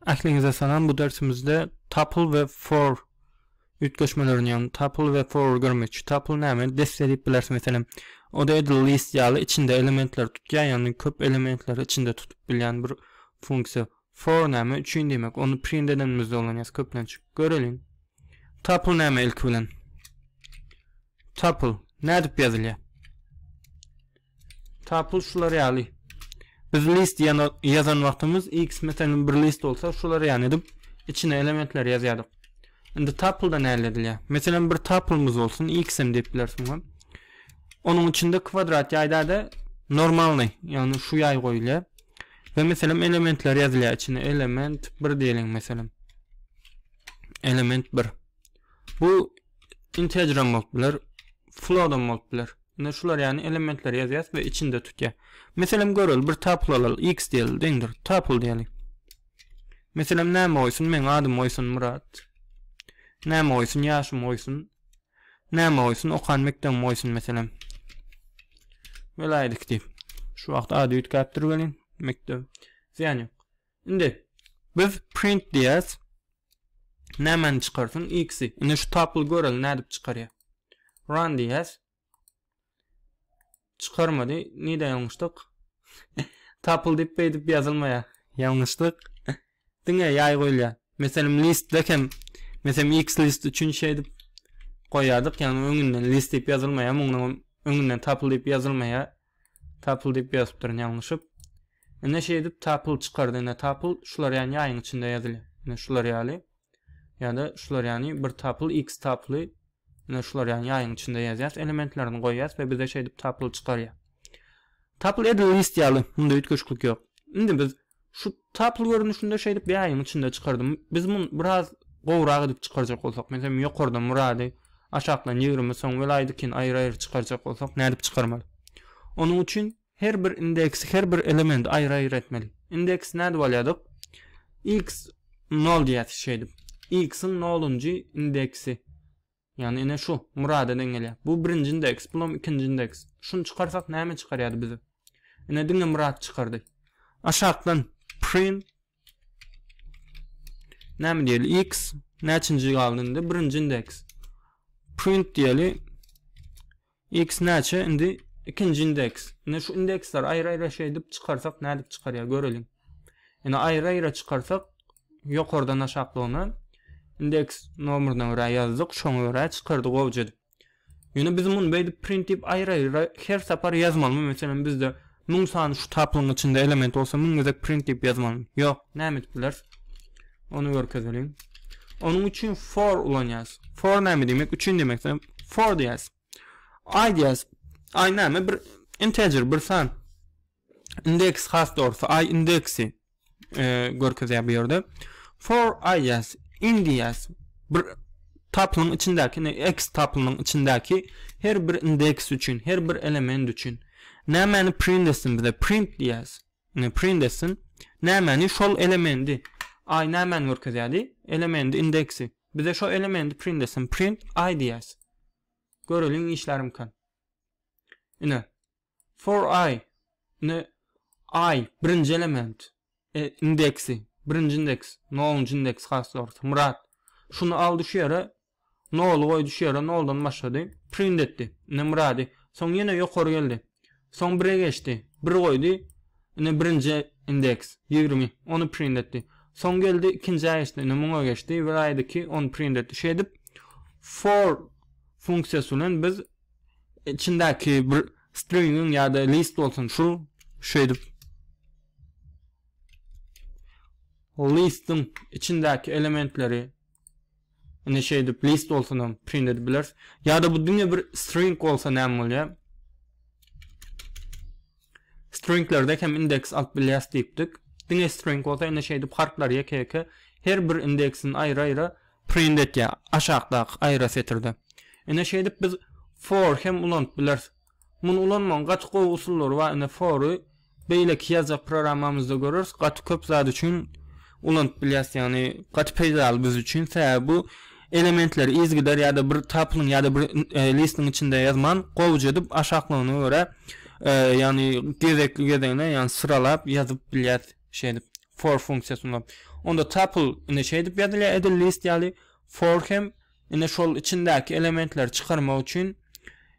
Ähliňize salam bu dersimizde tuple we for üýtgeşmelerini ýagny tuple we for görmekçi. Tuple näme? Desse diýip bileris meselem. O da edil list ýaly içinde elementleri tutýar, ýagny köp elementleri içinde tutup bilýän bir funksiýa. For näme? Üçin diýmek. Ony print edenimizde ulanýarys köplenç. Göreliň. Tuple näme ilki bilen? Tapl nädip ýazylýar? Tapl şular ýaly. Biz list ýazan wagtymyz x meselem bir list bolsa şular ýaly edip içine elementler ýazýardyk. Indi tapl da näle edilýär? Meselem bir taplymyz bolsun x hem diýip bilersiň. Onuň içinde kwadrat ýaýda-da normalny, ýagny şu ýaý goýulýar. Ve meselem elementler ýazylýar içine. Element 1 diýeliň meselem. Element 1. Bu integram bolup biler, floodam bolup biler. Indi şular ýaly elementleri ýazýas we içinde tutýar. Meselem göreli bir tuple alaly x diýeli deňdir tuple diýeli. Meselem näme goýsun men adym goýsun Murat. Näme goýsun ýaşym goýsun. Näme goýsun okan mekdebim goýsun meselem. Welaýdyk diýip. Şu wagt ady üýtgäpdir welin mekdep. Zyýan ýok. Indi biz print diýýäs. Nämäni çykarsyn? X-i. Indi şu tapyly göreli nädip çykarýar. Run diýýäs. Çykarmady. Nide ýalňyşdyk? Tapyl diýip beýdip ýazylmaýar. Ýalňyşdyk. Diňe ýaý goýulýar. Meselem listde hem meselem X list üçin şeýdip goýýardyk, ýagny öňünden list diýip ýazylmaýar, muňa öňünden tapyl diýip ýazylmaýar. Tapyl diýip ýazypdyryn ýalňyşyp. Ine şeýdip tapyl çykardy. Ine tapyl şular ýany ýaýyň içinde ýazylýar. Ine şular ýaly. Ýa-da şular ýany bir tapyl X tapyly. Ine şular ýany ýaýyň içinde ýazýas elementlerini goýýas we bize şeýdip tapyl çykarýar. Tapyl edil list ýaly. Munda üýtgeşiklik ýok. Indi biz Şu tapyl görnüşinde şeýdip ýaýyň içinde çykardym. Biz muny biraz gowrak edip çykarjak bolsak, meselem, ýokardan Murady, aşakdan Ýigrimi, soň Welaýdykini aýry-aýry çykarjak bolsak, nädip çykarmaly? Onuň üçin her bir indeksi, her bir elementi aýry-aýry etmeli. Indeks nädip alýardyk? X nol diýýäs şeýdip. X-iň nolunjy indeksi. Ýagny ine şu Murada deň gelýär. Bu birinji indeks, bulam ikinji indeks. Şuny çykarsak näme çykarýardy bize? Ine diňe Murat çykardy. Aşakdan print näme diýeli? X näçinji galdy indi? Birinji indeks. Print diýeli. X näçe indi ikinji indeks. Indi şu indeksleri aýry-aýry şeýdip çykarsak nädip çykarýar göreliň. Indi aýry-aýry çykarsak ýokardan aşaklygyna indeks nomeryna görä ýazdyk, şoňa görä çykardy gowja edip. Ýöne biz muny beýdip print diýip aýry-aýry her sapar ýazmalymy? Meselem bizde 1000 sany şu taplygyň içinde element bolsa 1000 gezek print diýip ýazmalymy? Ýok, näme edip bileris? Ony görkezeliň. Onuň üçin for ulanýas. For näme diýmek? Üçin diýmek. For diýas. I diýas. I näme? Bir integer, bir san. Indeks has dogrusu. I indeksi e, görkezýär bu ýerde. For I diýas. In diýas. Bir taplyň içindäki, ne x taplynyň içindäki her bir indeks üçin, her bir element üçin. Nämäni print etsin bize? Print diýas. Ne print etsin? Nämäni? Şol elemendi. Ay nämäni görkezýärdi? Elemendi indeksi. Bize şo elemendi print etsin. Print ay diýäs. Göreliň işlärimkan. Ine. For ay. Ne ay birinji element. E, indeksi. Birinji indeks. Nounji indeks has dogrusu. Murat. Şunu aldy şu ýere. Noly goý düşýär-ä, noldan başlady. Print etdi. Ine Myrady. Soň ýene ýokary geldi. Soň bire geçdi. Bir goýdy. Ine birinji indeks, ýigrimi. Ony print etdi. Soň geldi ikinjä geçdi. Ine muňa geçdi. Bir aýdy iki, ony print etdi. Şeýdip for funksiýasy bilen biz içindäki bir stringiň ýa-da list bolsun şu şeýdip listiň içindäki elementleri Indi şeýdip list bolsanam print edip bileris. Ýa-da bu diňe bir string bolsa näme bolýar? Stringlerde hem indeks alyp bilýäs diýipdik. Diňe string bolsa indi şeýdip harplar ýeke-ýeke her bir indeksin aýry-aýry print etýär aşakdaky aýra setirde. Indi şeýdip biz for hem ulanyp bileris. Muny ulanmagyň gaty gowy usullary bar ine fory beýleki ýazjak programmamyzda göreris gaty köp zat üçin ulanyp bilýäs ýagny gaty peýdaly biz üçin sebäbi bu elementleri yzgider ýa-da bir tapylyň ýa-da bir e, listiň içinde ýazman gowuja edip aşaklygyna görä e, ýagny gezekli gezegine ýagny syralap ýazyp bilýäs şeýdip for funksiýasyny onda tapyl ine şeýdip ýazylýar edil list ýaly for hem Ine şol içindäki elementleri çykarmak üçin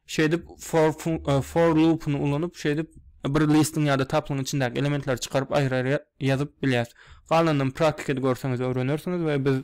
şeýdip for for loopuny ulanyp şeýdip bir listiň ýa-da taplyň içindäki elementleri çykaryp aýry-aýry ýazyp bilýäs. Galanynam praktikada görseňiz öwrenersiňiz we biz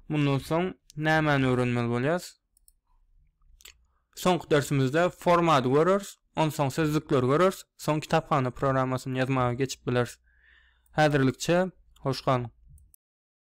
mundan soň nämäni öwrenmeli bolýarys? Soňky dersimizde formady göreris, onsoň sözlükleri göreris, soň kitaphana programmasyny ýazmaga geçip bileris. Häzirlikçe hoş galyň.